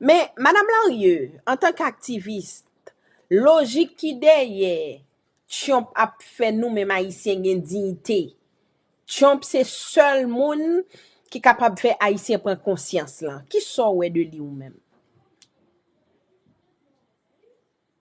Men, Madam Larieux, antan k aktivis, lojik ki dèyè Tyonp ap fè nou menm Ayisyen gen diyite. Tyonp se sèl moun ki kapab fè Ayisyen pran konsyans lan. Ki sa w wè de li ou menm?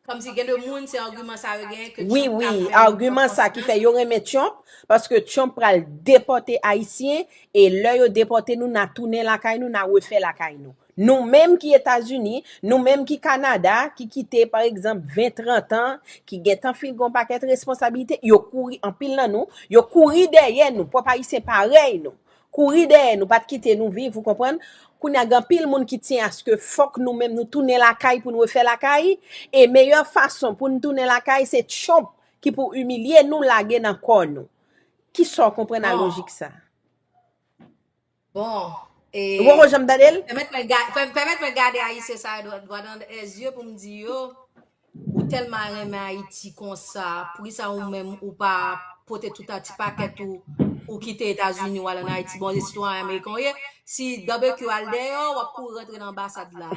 Komsi gen de moun se argument sa yo genyen ke Trump ka fè yo pran konsyans. Yo renmen Trump paske Trump pral depote ayisyen e lè yo depote nou na tounen lakay nou na refè lakay nou. Nou menm ki etazini, nou menm ki kanada ki kite pa egzanp 20, 30 an ki gentan fin gen yon pakèt responsabilite yo kouri anpil nan nou yo kouri dèyè nou pwòp ayisyen parèy nou Kouri dèyè nou, pat kite nou viv, ou konprann? Kounye a gen anpil moun ki tyen aske fòk nou menm nou tounen lakay pou n refè lakay, e meyè fason pou n tounen lakay se Trump ki pou imilye nou lage nan kò nou. Kisa w konprann a Bon, lojik sa? bon, e, Ou poko janm tande l? pèmèt mwen ga, pè, pèmèt mwen gade Ayisyen sa yo dwa, dwa nan e zye pou m di yo, Ou telman renmen Ayiti konsa, poukisa ou menm ou pa pote tout a ti pakèt ou, ou kite Etazini ou al an Ayiti, bon se sitwayen Ameriken ou ye, si Barbecue al deyò, w ap kouri rantre nan anbasad la.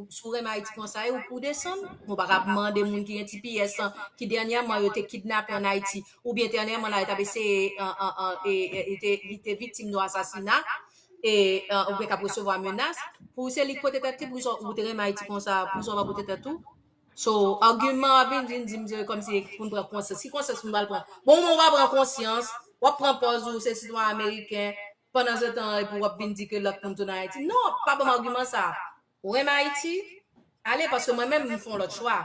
Si w renmen Ayiti konsa, e ou pou w desann? Ou pa ka ap mande moun ki gen ti piyès lan, ki dènyèman yo te kidnape an Ayiti, oubyen dènyèman la yo t ap eseye, li te viktim yon asasina, e ou gen kap resevwa menas pou se li ki pote tèt li pou ou te renmen Ayiti konsa pou sa ou pa pote tèt ou so argument ap vin vin dim se kom si pou nou pran konsyans ki konsyans pou nou al pran bon ou pa pran konsyans wap pran pòz ou se sitwa ameriken pandan se tan e pou wap vin di ke lòt moun tou nan Ayiti non pa banm argument sa Ou renmen Ayiti? Ale paske mwen menm m fon lòt chwa.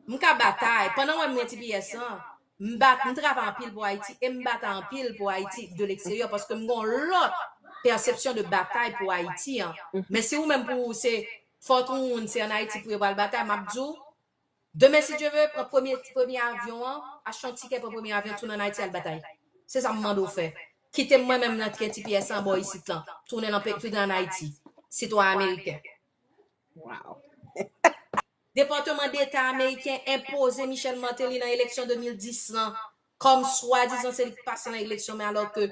M ka batay, pandan w wè m gen ti piyès lan, m bat, m travay anpil pou Ayiti e m batay anpil pou Ayiti de leksteryè paske m gen yon lòt pèsepsyon de batay pou Ayiti an. Men si ou menm pou ou se fòt ou moun se an Ayiti pou yo pral batay, m ap di w, Demen si Dye ve pran premye premye avyon an achte yon tikè pran premye avyon tounen an Ayiti al batay se sa m mande w fè kite m mwen menm nan ke ti pyès an bò isit lan tounen nan tounen an Ayiti sitwa ameriken. Waww. Departement d'Etat ameriken enpoze Michel Martelly nan eleksyon 2010 lan kòm swadizan se li k pase nan eleksyon men alò ke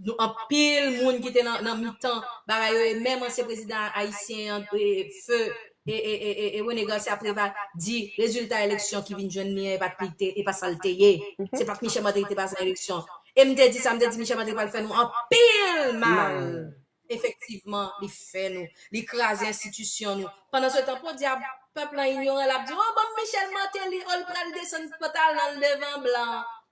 Nou anpil moun ki te nan mitan bagay yo e menm ansyen prezidan ayisyen an feu René Garcia Préval di rezilta eleksyon ki vin jwenn li an e pa sa l te ye. Se pa t Michel Martelly ki te pase nan eleksyon. E m te di sa, m te di Michel Martelly pral fè nou anpil mal. Efektivman li fè nou. Li kraze enstitisyon nou. Pandansetan podyab pèp lan inyoran l ap di o banm Michel Martelly o l pral desann pantalon l devan blan.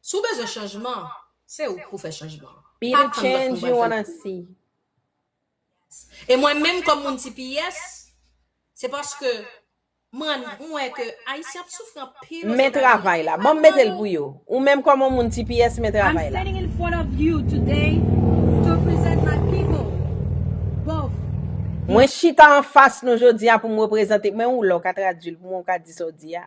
Si w bezwen chanjman, se ou pou fè chanjman an. Be the change you wanna see. E mwen menm kòm moun tps, se paske mwen wè ke Ayisyen ap soufri anpil Ozetazini. Men travay la. Banm mete l pou yo. Ou menm kòm yon moun tps, men travay la. I'm standing in front of you today to present my people, both. Mwen chita anfas nou jodi a pou m reprezante, men ou la w ka tradui l pou mwen ou ka di sa w di a.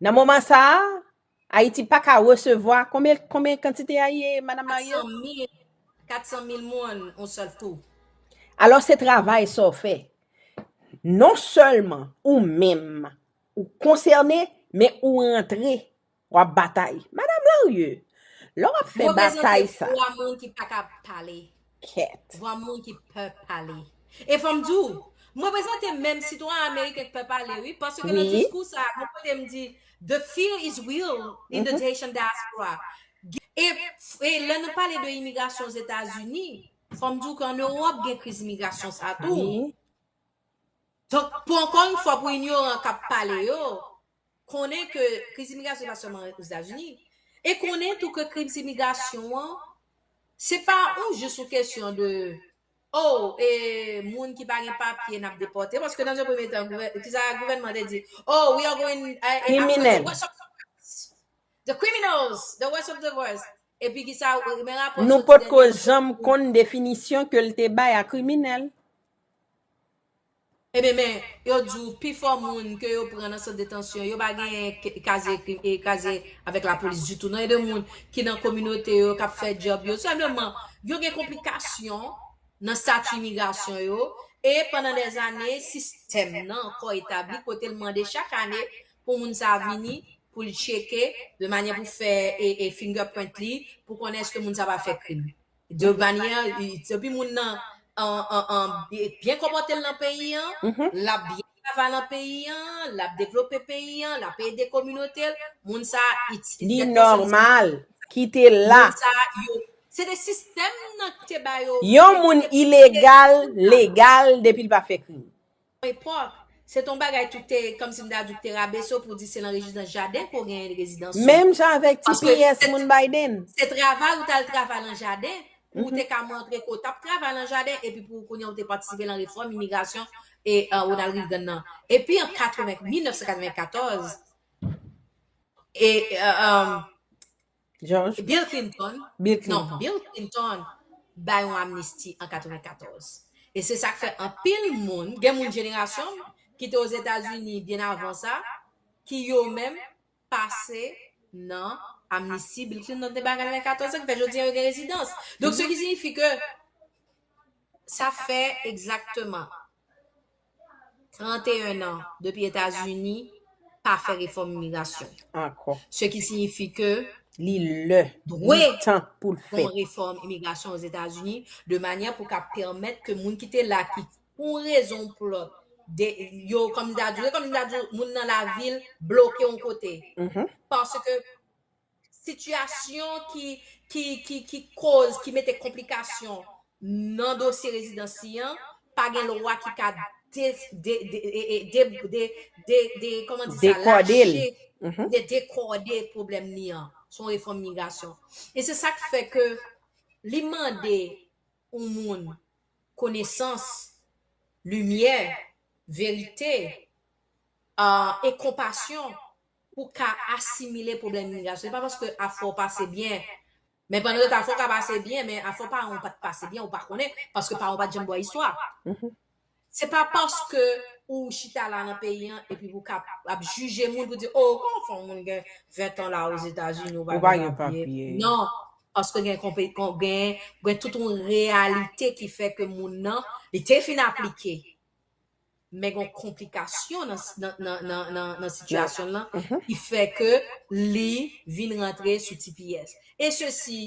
Nan moman sa a, Ayiti pa ka resevwa, konbyen, konbyen kantite a ye, Madam Marie? 400 mil, 400 mil moun on sèl kou. Alò se travay sa w fè. Non sèlman ou menm ou konsène, men ou rantre, w ap batay. Madam Larieux, lè w ap fè batay sa. Reprezante vwa moun ki pa ka pale. kèt. Vwa moun ki pè pale. E fòm di w, m reprezante menm sitwayen ameriken k pè pale wi, paske nan diskou sa a, gen kote m di, the fear is real in the Haitian diaspora. E lè nou pale de imigrasyon Ozetazini, fòm di w ke an Ewòp gen kriz imigrasyon sa tou. Donk, pou ankò yon fwa pou inyoran k ap pale yo, konnen ke kriz imigrasyon pa sèlman Ozetazini, e konnen tou ke kriz imigrasyon an, se pa yon jis yon kesyon de, oh, e moun ki pa gen papye n ap depòte, paske nan yon premye tan, ki sa gouvènman an te di? Oh, we are going, Kriminèl. The criminals, the worst of the worst. Epi ki sa, men rapò soti dènye. Nou potko janm konn definisyon ke l te bay a kriminèl. Ebyen men, yo di w pi fò moun ke yo pran nan sant detansyon yo pa gen kazye krim e kazye avèk lapolis ditou non e de moun ki nan kominote yo kap fè djòb yo senpleman yo gen konplikasyon nan stati imigrasyon yo e pandan dèzane sistèm nan ankò etabli kote l mande chak ane pou moun sa a vini pou l tcheke de manyè pou fè e fingerprint li pou konnen eske moun sa a pa fè krim. Giovanni an, i- depi moun nan an, an, an, bi- byen konpòte l nan peyi an, Mhm. l ap byen travay nan peyi an, l ap devlope peyi an, l ap ede kominote l, moun sa a itil. Li Tèt konsèy nòmal. Kite l la. moun sa a, yo, se te sistèm nan ki te ba yo. Yon moun ilegal, legal, depi l pa fè krim. Epòk, se te yon bagay tout te, kòmsi m ta di ou te rabese w pou w di se nan rezidans jaden ke w genyen rezidans ou. Menm jan avèk ti pyès moun Biden. Se travay ou t al travay lan jaden pou ou te ka montre ke w t ap travay lan jaden epi pou kounye a ou te patisipe lan refòm imigrasyon Ronald Reagan nan. Epi an 1994, George Bill Clinton, Bill non, Clinton. Bill Clinton bay yon amnisti an 94. E se sak fè anpil moun, gen moun jenerasyon m ki te Ozetazini byen avan sa, ki yo menm pase nan amnisti Bill Clinton te bay an 94 sa ki fè jodi an yo gen rezidans. Donk se ki sinifi ke sa fè egzakteman 31 an depi Etazini pa fè refòm imigrasyon. Ankò. Se ki siyifi ke li lè, dwe, li tan pou l fèt. Yon refòm imigrasyon o Zetazini de manyè pou ka pèmèt ke moun ki te la ki pou yon rezon pou lòt de yo kòm m ta di yo kòm m ta di moun nan lavil bloke yon kote. Paske Sitiyasyon ki koz, ki mete konplikasyon nan dosye rezidansi an, pa gen lwa ki ka dekòde pwoblèm li an. Se yon refòm migrasyon. E se sa k fè ke li mande yon moun konesans, limyè, verite, e konpasyon pou ka asimile pwoblèm imigrasyon. Se pa paske afè w pase byen, men pandan yo te afè w ka pase byen, men afè paran w pa t pase byen, ou pa konnen, paske paran w pa t janm ba w istwa. Se pa paske ou chita la nan peyi an epi pou ka ap jije moun pou di, o, kòman fè yon moun gen ventan la ozetazini ou pa gen papye? Non, paske gen tout yon reyalite ki fè ke moun nan, li te fin aplike. men gon konplikasyon nan sitiyasyon l lan ki fè ke li vin rantre sou tps. E sesi,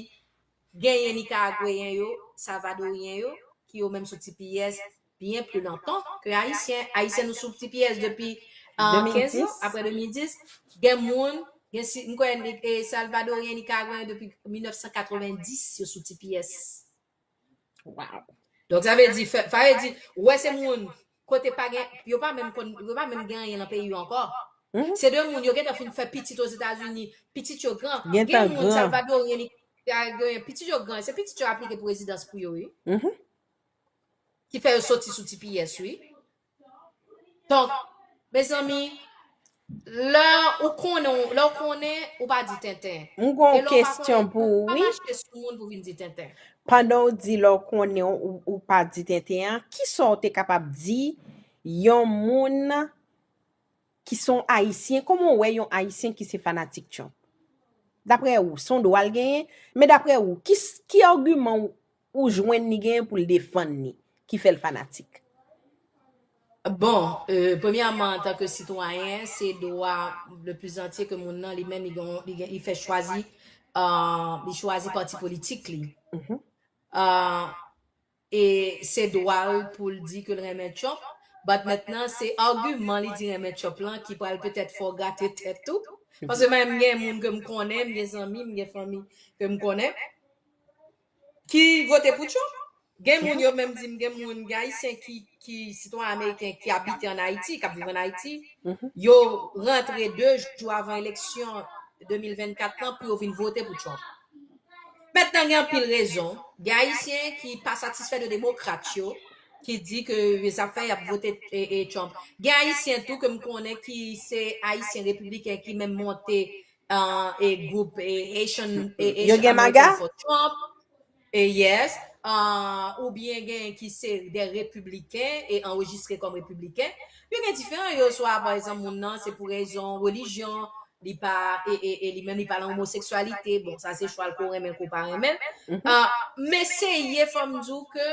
genyen Nikaragweyen yo, Salvadoryen yo, ki yo menm sou tps byen pli lontan ke Ayisyen. Ayisyen nou sou tps depi 15 an, apre 2010. Gen moun, mwen kwè Salvadoryen, Nikaragweyen depi 1990 yo sou tps. Wow. Donk sa vle di, fè- sa vle di, ou wè se moun kote pa gen, yo pa menm kon, yo pa menm gen anyen nan peyi yo ankò. Mhm. Se de moun yo gentan fin fè pitit aux États-Unis, pitit yo gran. Gen Gentan moun gran. salvadorien li salvadorien, pitit yo gran, se pitit yo aplike pou rezidans pou yo, oui. Mhm. Ki fè yo soti sou TPS, oui. Donk, mezanmi, lè ou konnen, ou- lè ou konnen, ou pa di tenten. M gon E lè ou pa kesyon konnen, pou ou ou pa wi. mache sou moun pou vin di tenten. Pandan ou di lè ou konnen ou, ou, ou pa di tenten an, ki sa ou te kapab di yon moun ki son Ayisyen, kòman ou wè yon Ayisyen ki se fanatik Trump? Daprè ou, son dwa l genyen? Men daprè ou, ki, s- ki agiman ou Ou jwenn li genyen poul defann li ki fèl fanatik. Bon, premyèman antanke sitwayen, se dwa le plus antye ke moun nan li menm li gen li gen li fè chwazi li chwazi pati politik li. E se dwa l pou l di ke l renmen Trump, but mentnan se agiman li di renmen Trump lan ki pral petèt fè w grate tèt ou. Paske menm m gen moun ke m konnen, m gen zanmi, m gen fanmi ke m konnen. Ki vote pou Trump? Gen moun yo menm di m gen moun, gen Ayisyen ki ki sitwayen ameriken ki abite an Ayiti, k ap viv an Ayiti, yo rantre 2 jou avan eleksyon 2024 lan pou yo vin vote pou Trump. Mentnan gen anpil rezon, gen Ayisyen ki pa satisfè de demokrat yo, ki di ke sa fè y ap vote Trump. Gen Ayisyen tou ke m konnen ki se Ayisyen repibliken ki menm monte e group e Haitian e Yo gen maga? American for Trump e yes uh, ou byen gen ki se de repibliken e anrejistre kòm repibliken yo gen diferan yo swa pa egzanp moun nan se pou rezon relijyon li pa e e e li menm li pa nan omoseksyalite bon sa se chwal ke w renmen ke w pa renmen l uh, men se ye fò m di w ke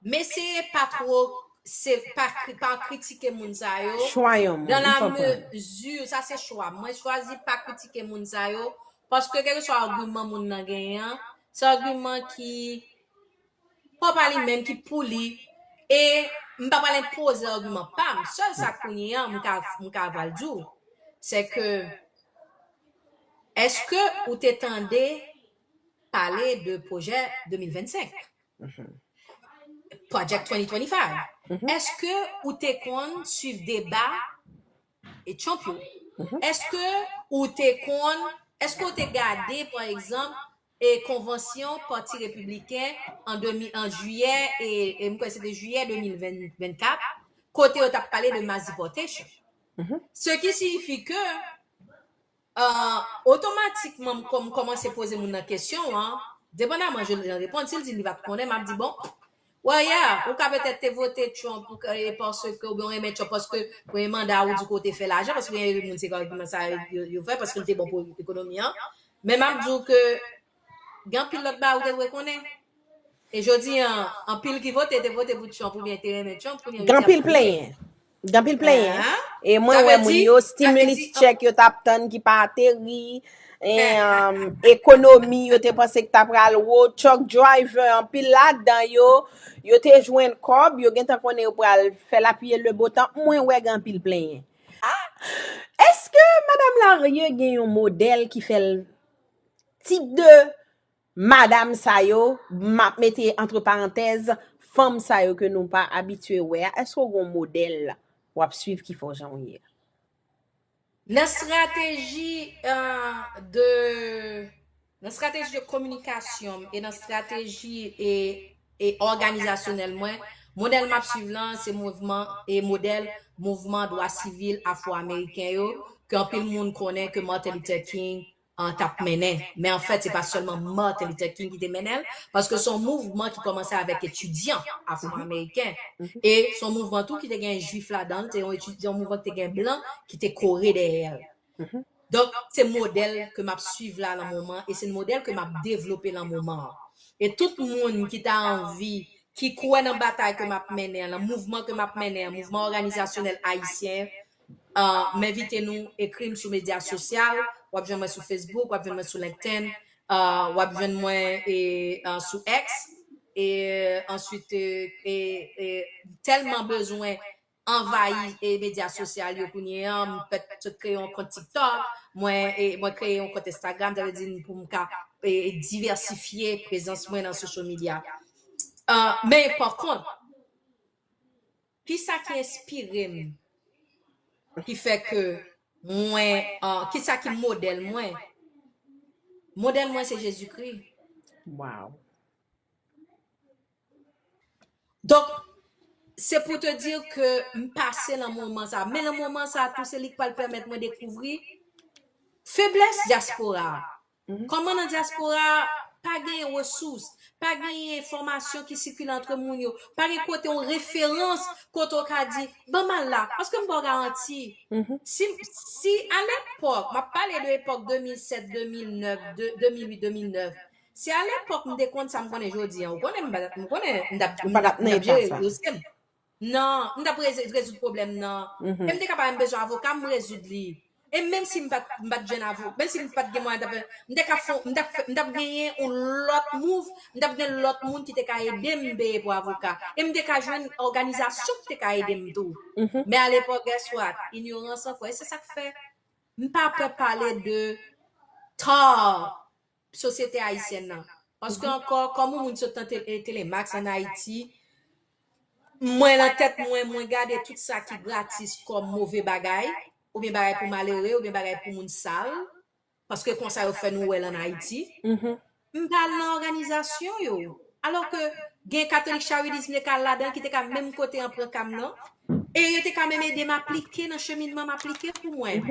Meseye pa two se pa pa kritike moun sa yo Chwa yon moun, dans m la konprann. mesure sa se chwam mwen chwazi pa kritike moun sa yo paske kèlkeswa agiman moun nan genyen an se agiman ki pa pa li menm ki pou li e m pa pral enpoze agiman pam sèl sa kounye an m ka m ka pral di w se ke èske ou te tande pale de pwojè 2025 Project 2025 eske ou te konn swiv deba e Trump yo eske ou te konn eske ou te gade pa egzanp e konvansyon pati repibliken an 2000 an jiyè e e m kwè se te jiyè 2024 kote yo t ap pale de mass deportation ce qui signifie que Ahh otomatikman m kòm kòmanse poze moun nan kesyon an, depandaman jan l reponn, si l di m li pat konnen map di bon Well yeah, ou ka petèt te vote Trump ou ka e paske oubyen ou renmen Trump paske premye manda a ou di ke w te fè lajan paske gen anpil moun se agiman sa yo fè paske l te bon pou ekonomi an men map di w ke Gen anpil lòt bagay ou te dwe konnen. E jodi an, anpil ki vote te vote pou Trump oubyen te renmen Trump kounye yo Ganpil plenyen. Ganpil plenyen. E mwen wè moun yo stimulus check yo tap tann ki pa ateri. E ekonomi yo te panse ki ta pral wo. Truck driver anpil la dan yo. Yo te jwenn kòb. Yo gentan konnen yo pral fè la pye le bo tan. Mwen wè ganpil plenyen. Eske madam Larieux gen yon modèl ki fèl. Tip de madam sa yo, m ap mete antre parantèz, fanm sa yo ke nou pa abitye wè a, èske ou gen yon modèl w ap suiv ki fè w jan w ye a? Nan strateji de, nan strateji de kominikasyon m e nan strateji e òganizasyonèl mwen, modèl m ap suiv lan se mouvman e modèl mouvman dwa sivil afro-ameriken yo ke anpil moun konnen ke Martin Luther King an tap mennen men an fèt se pa sèlman Martin Luther King ki te mennen l paske son mouvman ki kòmanse avèk etidyan afro ameriken e son mouvman tou ki te gen jwif ladan l se yon etid se yon mouvman ki te gen blan ki te kore dèyè l donk se modèl ke map swiv la lan moman e se yon modèl ke map devlope lan moman an e tout moun ki ta anvi ki kwè nan batay ke map mennen an lan mouvman ke map mennen an mouvman òganizasyonèl ayisyen M envite nou ekri m sou medya sosyal, w ap jwenn mwen sou Facebook, w ap jwenn mwen sou LinkedIn, w ap jwenn mwen sou X, e answit tèlman bezwen anvayi medya sosyal yo kounye an, m fèt sot kreye yon kont TikTok, mwen kreye yon kont Instagram, sa vle di pou m ka divèsifye prezans mwen nan social media. Men pa kont, Ki sa ki enspire m ki fè ke mwen ki sa ki modèl mwen modèl mwen se Jezikri Waw Donk se pou te dir ke m pase lan moman sa men lan moman sa tou se li k pral pèmèt mwen dekouvri feblès dyaspora Kòman nan dyaspora a, pa genyen resous, pa genyen enfòmasyon ki sikile antre moun yo, pa gen kote yon referans kote w ka di, ban m al la, paske m ba w garanti, si, si alepòk, m ap pale de epòk 2007, 2009, 2008, 2009, si alepòk m te konn sa m konnen jodi an, ou konnen m pa t ap, m konnen m t ap, m t ap jere dosye m. nan m t ap rezoud pwoblèm nan e m te kapab m bezwen avoka m rezoud li e menm si m pa t jwenn avoka menm si m pa t gen mwayen ta fè m te ka fon m t ap genyen yon lòt mouv m t ap gen lòt moun ki te ka ede m peye pou avoka e m te ka jwenn òganizasyon ki te ka ede m tou men alepòk guess what inyorans ankò e se sa k fè m pa pè pale de tar sosyete ayisyèn nan. Paske ankò, kòm yon moun sot nan Telemax an Ayiti, mwen nan tèt mwen, mwen gade tout sa ki gratis kòm move bagay, oubyen bagay pou malere, oubyen bagay pou moun sal, paske konsa yo fè nou wè l an Ayiti. M pa al nan òganizasyon yo. Alò ke gen katolik Charidis m te ka al ladan l ki te ka menm kote an pran ka m nan e yo te ka menm ede m aplike nan cheminman m aplike pou mwen.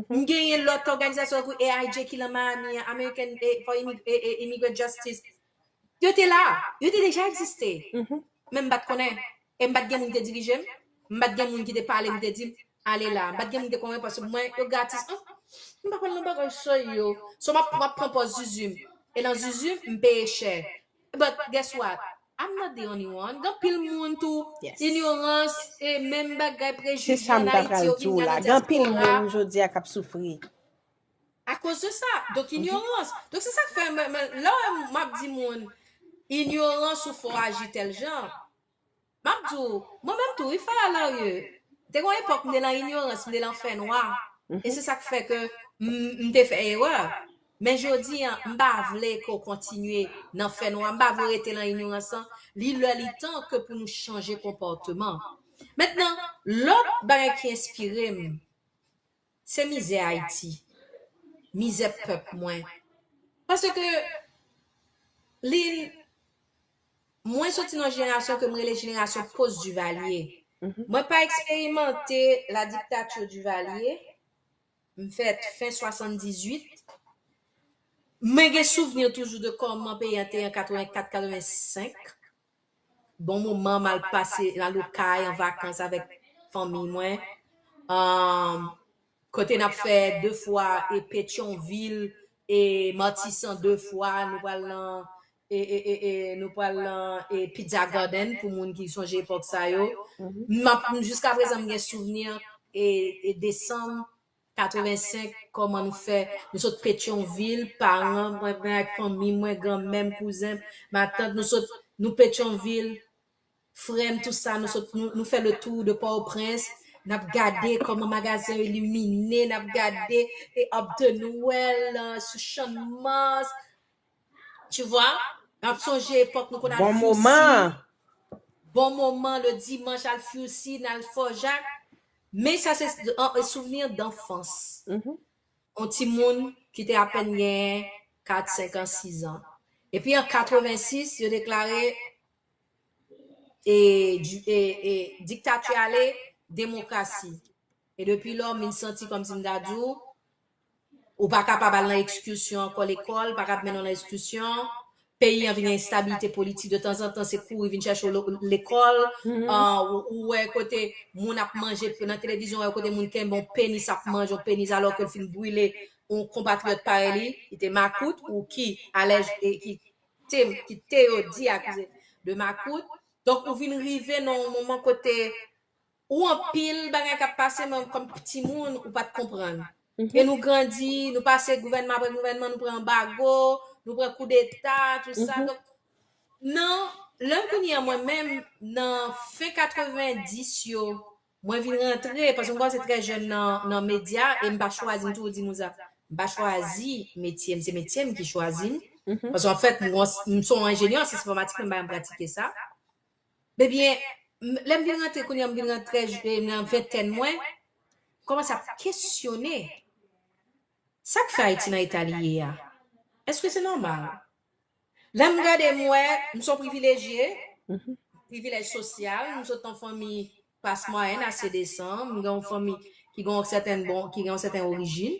M genyen lòt òganizasyon tankou AIJ ki lan Miami an, American for Immigrant Justice. Yo te la. Yo te deja egziste. Men m pa t konnen. E m pa t gen moun ki te dirije m. M pa t gen moun ki te pale m, te di m, Ale la a. M pa t gen moun ki te konvenk paske pou mwen, yo gratis ank. M pa konn nan bagay sa yo. So m ap m ap pran pòz zuzu m. E nan zuzu m, m peye chè. But, guess what? I'm not the only one. Gen anpil moun tou, inyorans, e menm bagay, Se prejije sa m an ta Ayiti pral yo di vin w gen la. nan Gen anpil dyaspora. moun jodi a k ap soufri. A koz de sa, donk inyorans. Donk se sak fè mwen mwen lè wè map di moun inyorans ou fè w aji tèl jan. Map di w, mwen menm tou wi Faya Larye, te gon epòk m te lan inyorans, m te lan fè nwa e se sak fè ke m m te fè erè. Men jodi an, m pa vle ke w kontinye nan fè nwa, m pa vle w rete lan inyorans lan, li lè li tan ke pou nou chanje konpòteman. Mentnan, lòt bagay ki enspire m, Se mizè Haiti. Mizè pèp mwen. Pase ke li Mwen soti nan jenerasyon ke m rele jenerasyon post Duvalier. Mwen pa eksperimante la dictature Duvalier. M fèt fen 78. Mwen gen souvni toujou de kòman peyi an te an 84, 85. Bon moman m al pase m al okay an vakans avèk fanmiy mwen. Um, kote nap fè 2 fwa e Petyonvil e Matisan 2 fwa, nou pral nan e e e e nou pral nan e Pizza Garden pou moun ki sonje epòk sa yo. Map jiskaprezan m gen souvni e e desanm 85 koman nou fè nou sot petion vil paran mwen mwen ak fanmi mwen gran mèm kouzenm matant nou sot nou petion vil frèm tout sa nou sot nou nou fè le tour de port au prince nap gade koman magazen yo illumine nap gade e up the noël sou chanmas Tu vois? Map sonje epòk nou konn al Bon Fousi. moman! Bon moman le dimanche al Fousi, nal Fort Jacques. Men sa se souvenir d'enfance. On ti moun ki te apèn gen 4, 5 ans, 6 ans. Epi an 86 yo deklare dictature ale, demokrasi. E depi lò min santi kòmsi m ta di w Ou pa kapab al nan ekskursyon ankò lekòl pa kab mennen w nan ekskursyon peyi an vin gen enstabilite politik de tanzantan se kouri vin chèche w lekòl ou wè kote moun ap manje nan televizyon wè kote moun kenbe yon penis ap manje yon penis alò ke l fin brile yon konpatriyòt parèy li ki te makout ou ki alèj ki te ki te yo di akize de makout donk ou vin rive nan yon moman kote Ou anpil bagay kap pase men kom ti moun ou pat konprann. E nou grandi, nou pase gouvènman apre gouvènman, nou pran anbago, nou pran koudeta, tout sa. Donk nan lè kounye an mwen menm nan fen 90 yo, mwen vin rantre, paske mwen kòmanse trè jèn nan medya e m pa chwazi, m toujou di moun sa, m pa chwazi metye m, se metye m ki chwazi m. Paske anfèt m son enjenyè an syans enfòmatik men m pa janm pratike sa. Ebyen, lè m vin rantre kounye a, m vin nan trèz, nan ventèn mwen, m kòmanse ap kesyone, sa k fè Ayiti nan eta li ye a? Èske se nòmal? Lè m gade, m wè, m se yon privilejye, privilèj sosyal, m sot nan yon fanmi klas mwayèn ase desan, m gen yon fanmi ki gen yon sèten bon, ki gen yon sèten orijin,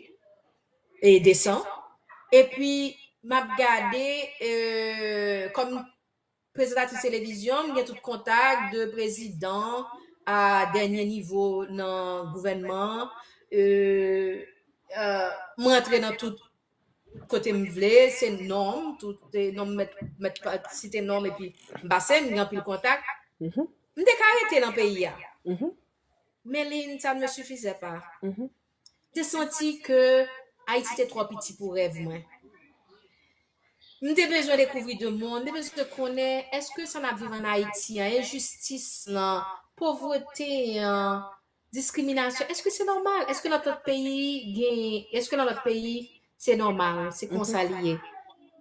e desan, epi m ap gade, kòm. Prezantatrice televizyon, m gen tout kontak de prezidan a dènye nivo nan gouvènman an. M rantre nan tout kote m vle, se non m, tout non m mèt site non m epi m pase, m gen anpil kontak. M te ka rete nan peyi a, men li n sa n me sifizè pa. te santi ke Ayiti te twò piti pou rèv mwen. M te bezwen dekouvri de mond, m te bezwen konnen èske sa n ap viv an Ayiti an, enjistis lan, povrete an, diskriminasyon, èske se nòmal? Èske nan lòt peyi gen, èske nan lòt peyi se nòmal, se konsa li ye?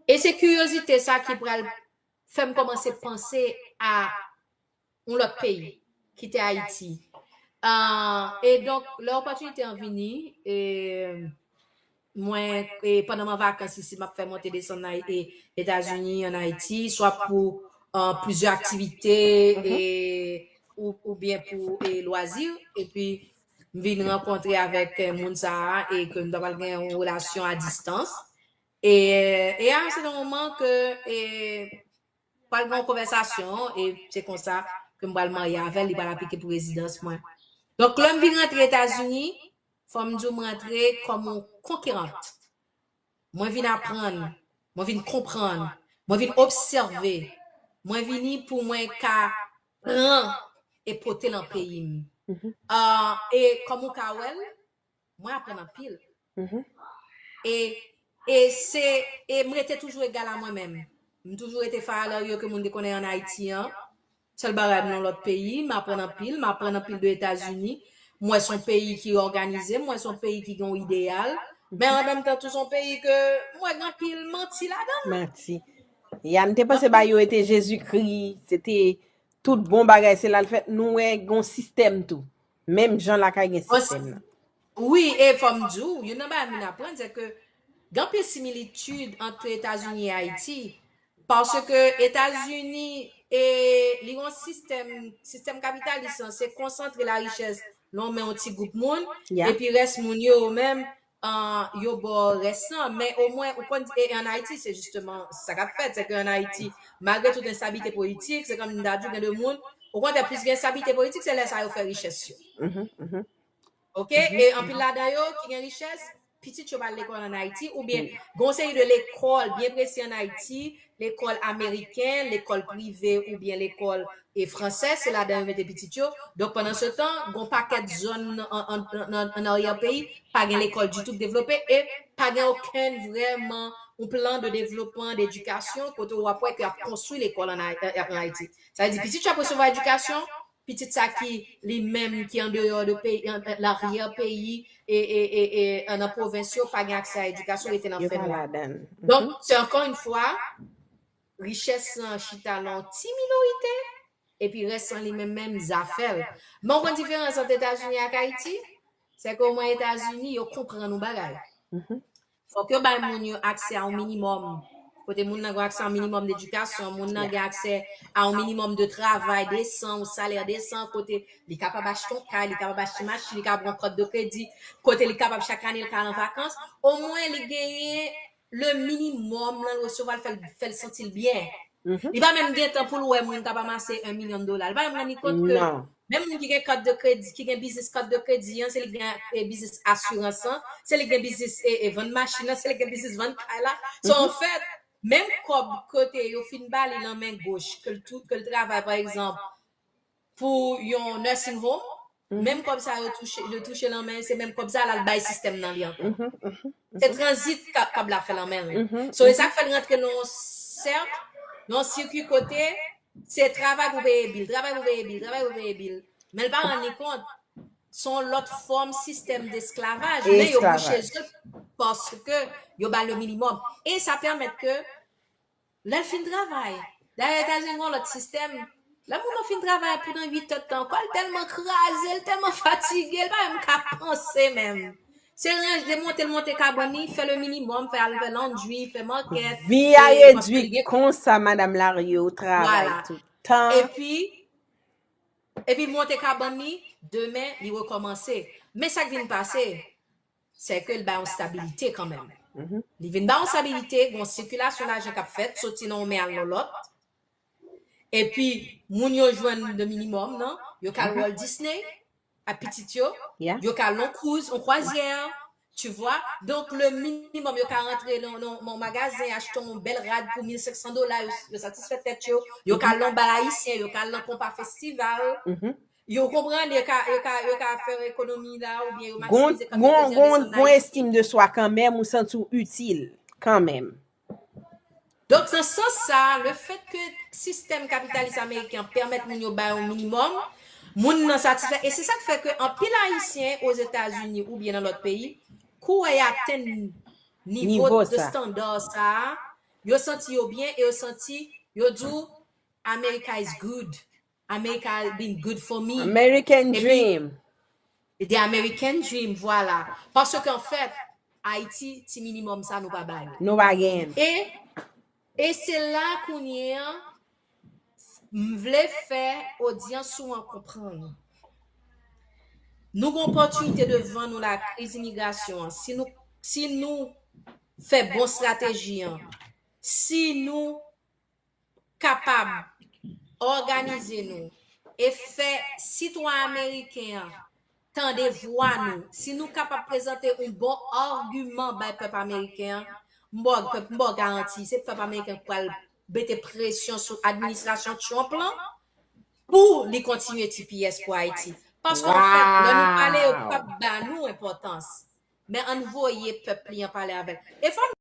E se kiryozite sa ki pral fè m kòmanse panse a yon lòt peyi, kite Ayiti. E donk, lè opòtinite an vini, mwen, pandan mwen an vakans isi, m ap fè monte desann Etazini, an Ayiti, swa pou plizyè aktivite, oubyen pou lwazi, epi m vin rankontre avèk moun sa a, e ke m ta pral gen yon relasyon a distans. E a yon sèten moman ke, Pral gen yon konvèsasyon e se konsa ke m pral marye avè l, li pral aplike pou rezidans mwen. Donk lè m vin rantre Etazini, fò m di w m rantre kòm yon konkirant. Mwen vin aprann, mwen vin konprann, mwen vin obsève, mwen vini pou mwen ka pran e pote lan peyi m. E kòm ou ka wè l, Mwen aprann anpil. E e se e m rete toujou egal a mwen menm. M toujou rete Farah Loriot ke moun te konnen an Ayiti an. Sèl bagay m nan lòt peyi, m aprann anpil, m aprann anpil de Etazini. M wè son peyi ki òganize, m wè son peyi ki gen yon ideyal. Men an menm tan tou son peyi ke m wè gen anpil manti ladan l. Manti. Ya m te panse bagay yo ete Jezikri, se te tout bon bagay se la l fèt. Nou wè gen yon sistèm tou. Menm jan lakay gen Bon, sistèm nan. wi, e fò m di w, youn nan bagay moun aprann, se ke gen anpil similitid ant Etazini e Ayiti, paske Etazini, e, li gen yon sistèm, sistèm kapitalis lan, se konsantre larichès nan men yon ti gwoup moun, Yeah. epi rès moun yo, yo menm, an yo ba w rès lan men omwen ou konn e an Ayiti se jisteman sa k ap fèt se ke an Ayiti malgre tout enstabilite politik se kòm m ta di w gen de moun okontrè plis gen enstabilite politik se lè sa yo fè richès yo ok e anpil ladan yo ki gen richès pitit yo pa al lekòl an Ayiti oubyen gen yon seri de lekòl byen presi an Ayiti lekòl ameriken, lekòl prive oubyen lekòl fransè, se ladan yo mete pitit yo, donk pandan se tan gon pakèt zòn an aryè peyi pa gen lekòl ditou k devlope e pa gen okenn vrèman yon plan de devlopman dedikasyon kote w ap wè ke y ap konstwi lekòl an Ayiti. Sa vle di pitit yo ap resevwa edikasyon, Pitit sa ki li menm ki andeyò de peyi, laryè peyi e nan pwovens yo pa gen aksè a edikasyon rete nan fè nwa. Donk se ankò yn fwa richès lan chita nan yon ti minorite epi rès lan li menm menm zafè l. Men w konn diferans ant Etazini ak Ayiti? Se ke omwen Etazini yo konprann yon bagay. Fòk yo bay moun yo aksè a yon minimòm, kote moun nan gen aksè a yon minimòm d'edikasyon, moun nan gen aksè a yon minimòm de travay desan, yon salè desan, kote li kapab achte yon kay, li kapab achte machin, li kapab pran kòt de kredi, kote li kapab chak ane li ka al an vakans, omwen li genyen le minimòm lè l resevwa l fè l santi l byen. Li pa menm gen tan pou l wè moun k ap amase 1 milyon dola. Li pa menm rann li kont ke Menm moun ki gen kat de kredi, ki gen biznis kat de kredi an, se li ki gen e biznis asirans lan, se li ki gen biznis e e vann machin nan, se li ki gen biznis vann kay la. So an fèt, menm kòb kote yo fin ba li lan men goch ke l tou ke l travay pa egzanp pou yon nursing home, menm kòb sa yo touche yo touche lan men se menm kòb sa l al bay sistèm nan li ankò. Se tranzit ka kab la fè lan men l. So e sa k fè l rantre lan yon sèk, lan yon sirkwi kote Se travay pou peye bil, travay pou peye bil, travay pou peye bil. Men l pa rann li kont, son lòt fòm sistèm desklavaj, men yo bouche Esklavaj. zye paske yo ba l le minimòm. E sa pèmèt ke lè l fin travay, dayè Etazini gen yon lòt sistèm, lè moun nan fin travay pou nan 8 èdtan, kò l tèlman kraze, l tèlman fatige, l pa menm ka panse menm. Se range de monte l monte kabann li, fè le minimum, fè al fè laundry, fè market. Vi a redwi konsa madam Lario ou travay toutan. Epi epi l monte kabann li, demen li rekòmanse. Men sa k vin pase, sè ke l bay yon stabilite kanmenm. Li vin bay yon stabilite, gen yon sikilasyon lajan k ap fèt, soti nan yon men al nan lòt. Epi moun yo jwenn le minimum nan, yo ka al Walt Disney, a pitit yo, Yeah. yo ka lon cruise, on croisière, tu vois. Donc le minimum yo ka rentre nan nan nan magazen achte on bel rad pou 1500 dola, yo, yo satisfè tèt yo, yo ka lon bal ayisyen, yo ka lan konpa festival. Mhm. Yo konprann, yo ka yo ka yo ka fè ekonomi la ou bien yo Gon, maximize gon, kantite gon, gon estime de swa kanmenm, ou santi ou itil, kanmenm. Donk nan sans sa, le fèt ke sistèm kapitalis ameriken an pèmèt moun yo bay yon minimòm, moun nan satisfè e se sa k fè ke anpil ayisyen ozetazini oubyen nan lòt peyi kouwè y atenn nivo de standa sa a, yo santi yo byen e yo santi yo di w America is good. America been good for me. American dream. The American dream vwala. Parce que en fait Haiti ti minimum sa nou pa ba yo. Nou pa genyen. E se la kounye an m vle fè odyans ou an konprann. Nou gen yon opòtinite devan nou la kriz imigrasyon an si nou si nou fè bon strateji an, si nou. kapab òganize nou e fè sitwa ameriken an tande vwa nou, si nou kapab prezante yon bon agiman bay pèp ameriken an, m ba w garanti, se pèp ameriken an ki pral mete presyon sou administrasyon Trump lan pou li kontinye tps pou Ayiti. Paske anfèt, lè nou pale yo pap ba nou enpòtans. Men ann voye pèp li an pale avè l.